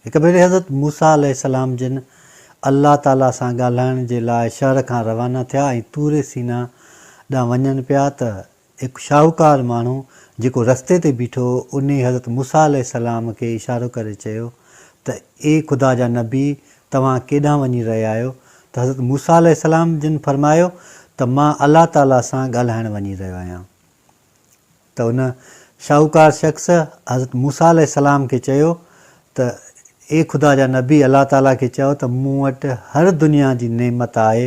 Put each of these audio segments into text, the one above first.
هڪ ڀيري حضرت موسيٰ عليه السلام جن الله تعاليٰ سان ڳالهائڻ جي لاء شهر کان روانا ٿيا ۽ طور سينا ڏانهن وڃن پيا ته هڪ شاهوڪار ماڻهو جيڪو رستي تي بيٺو هو انهي حضرت موسيٰ عليه السلام کي اشارو ڪري چيو ته اي خدا جا نبي توهان ڪيڏانهن وڃي رهيا آهيو ته حضرت موسيٰ عليه السلام جن فرمايو ته مان الله تعاليٰ سان ڳالهائڻ وڃي رهيو آهيان ته ان شاهوڪار شخص حضرت موسيٰ عليه السلام کي چيو ته اي خدا جا نبي الله تعالي کي چئو ته مون وٽ هر دنيا جي نعمت آهي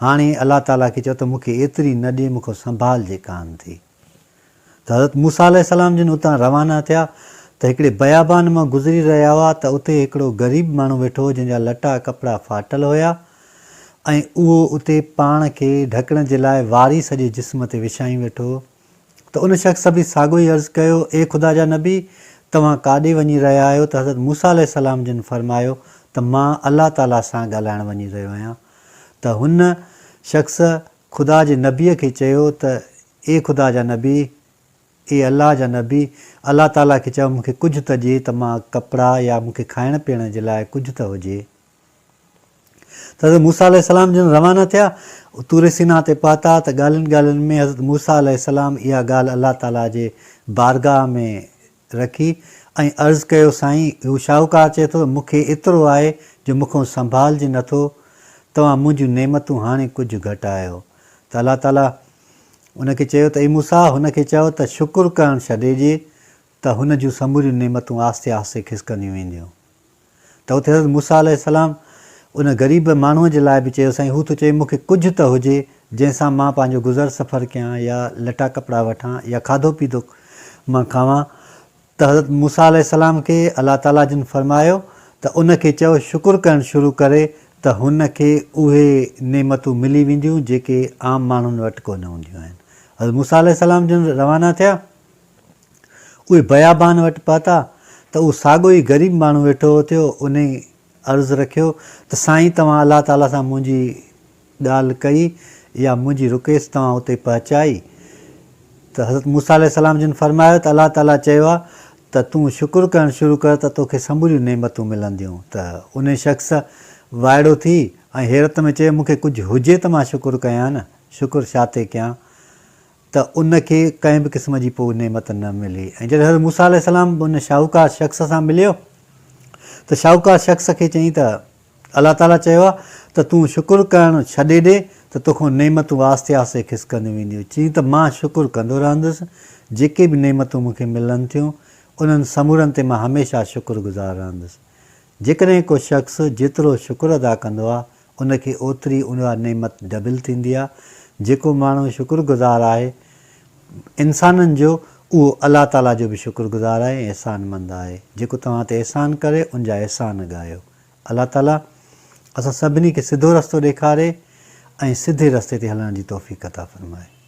هاڻي الله تعالي کي چئو ته مون کي ايتري نه ڏي مون کان سنڀالجي ڪانه ٿي ته حضرت موسيٰ عليه السلام جن اتان روانا ٿيا ته هڪڙي بيابان مان گذري رهيا هئا ته اتي هڪڙو غريب ماڻهو ويٺو هو جنهن جا لٽا ڪپڙا ڦاٽل هيا ۽ اهو اتي پاڻ کي ڍڪڻ جي لاء واري سڄي جسم تي وڇائي ويٺو هو ته ان شخص به ساڳيو ئي عرض ڪيو، اي خدا جا نبي! توهان ڪاڏي وڃي رهيا آهيو ته حضرت موسيٰ عليه السلام جن فرمايو ته مان الله تعاليٰ سان ڳالهائڻ وڃي رهيو آهيان ته هن شخص خدا جي نبيء کي چيو ته اي خدا جا نبي! اي الله جا نبي! الله تعاليٰ کي چئو مون کي ڪجهه ته ڏي ته مان ڪپڙا يا مون کي کائڻ پيئڻ جي لاء ڪجهه ته هجي. ته حضرت موسيٰ عليه السلام جن روانا ٿيا، طور سيناء تي پهتا ته ڳالهين ڳالهين ۾ حضرت موسيٰ عليه السلام اها ڳالهه الله تعاليٰ جي بارگاهه ۾ رکي ۽ عرض ڪيو سائين هو شاهوڪار چئي ٿو مون کي ايترو آهي جو مون کان سنڀالجي نه ٿو توهان منهنجون نعمتون هاڻي ڪجهه گهٽايو ته الله تعاليٰ ان کي چيو ته اي موسيٰ هن کي چئو ته شڪر ڪرڻ ڇڏي ڏي ته هن جون سموريون نعمتون آهستي آهستي کسڪنديون وينديون. ته اتي حضرت موسيٰ عليه السلام ان غريب ماڻهوء جي لاء به چيو سائين هو ٿو چوي مون کي ڪجهه ته هجي جنهن سان مان پنهنجو گذر سفر ڪيان يا لٽا ڪپڙا وٺان يا کاڌو پيتو مان کاوان ته حضرت موسيٰ عليه السلام کي الله تعاليٰ جن فرمايو ته ان کي چئو شڪر ڪرڻ شروع ڪري ته هن کي اهي نعمتون ملي وينديون جيڪي عام ماڻهن وٽ ڪونه هونديون آهن حضرت موسيٰ عليه السلام جن روانا ٿيا. اهي بيابان وٽ پهتا ته اهو ساڳيو ئي غريب ماڻهو ويٺو اٿيو، انهي عرض رکيو ته سائين توهان الله تعاليٰ سان منهنجي ڳالهه ڪئي يا منهنجي رڪويست توهان اتي پهچائي؟ ته حضرت موسيٰ عليه السلام جن فرمايو ته الله تعاليٰ چيو آهي ته تون شڪر ڪرڻ شروع ڪر ته توکي سموريون نعمتون ملنديون ته انهي شخص وائڙو ٿي ۽ حيرت ۾ چيو مونکي ڪجهه هجي ته مان شڪر ڪيان نه شڪر شاتي ڪيان؟ ته ان کي ڪنهن به قسم جي پوء نعمت نه ملي ۽ جڏهن حضرت موسيٰ عليه السلام ان شاهوڪار شخص سان مليو ته شاهوڪار شخص کي چيائين ته الله تعاليٰ چيو آهي ته تون شڪر ڪرڻ ڇڏي ڏي ته توکان نعمتون آهستي آهستي کسڪنديون وينديون، چيائين ته مان شڪر ڪندو رهندس، جيڪي به نعمتون مون کي ملن ٿيون، انهن سمورن تي مان هميشه شڪر گذار رهندس. جيڪڏهن ڪو شخص جيترو شڪر ادا ڪندو آهي ان کي اوتري اها نعمت ڊبل ٿيندي آهي، جيڪو ماڻهو شڪر گذار آهي انسانن جو اهو الله تعاليٰ جو به شڪر گذار آهي ۽ احسان مند آهي، جيڪو توهان تي احسان ڪري ان جا احسان ڳايو. الله تعاليٰ اسان سڀني کي سڌو رستو ڏيکاري ۽ سڌي رستي تي هلڻ جي توفيق عطا فرمائي.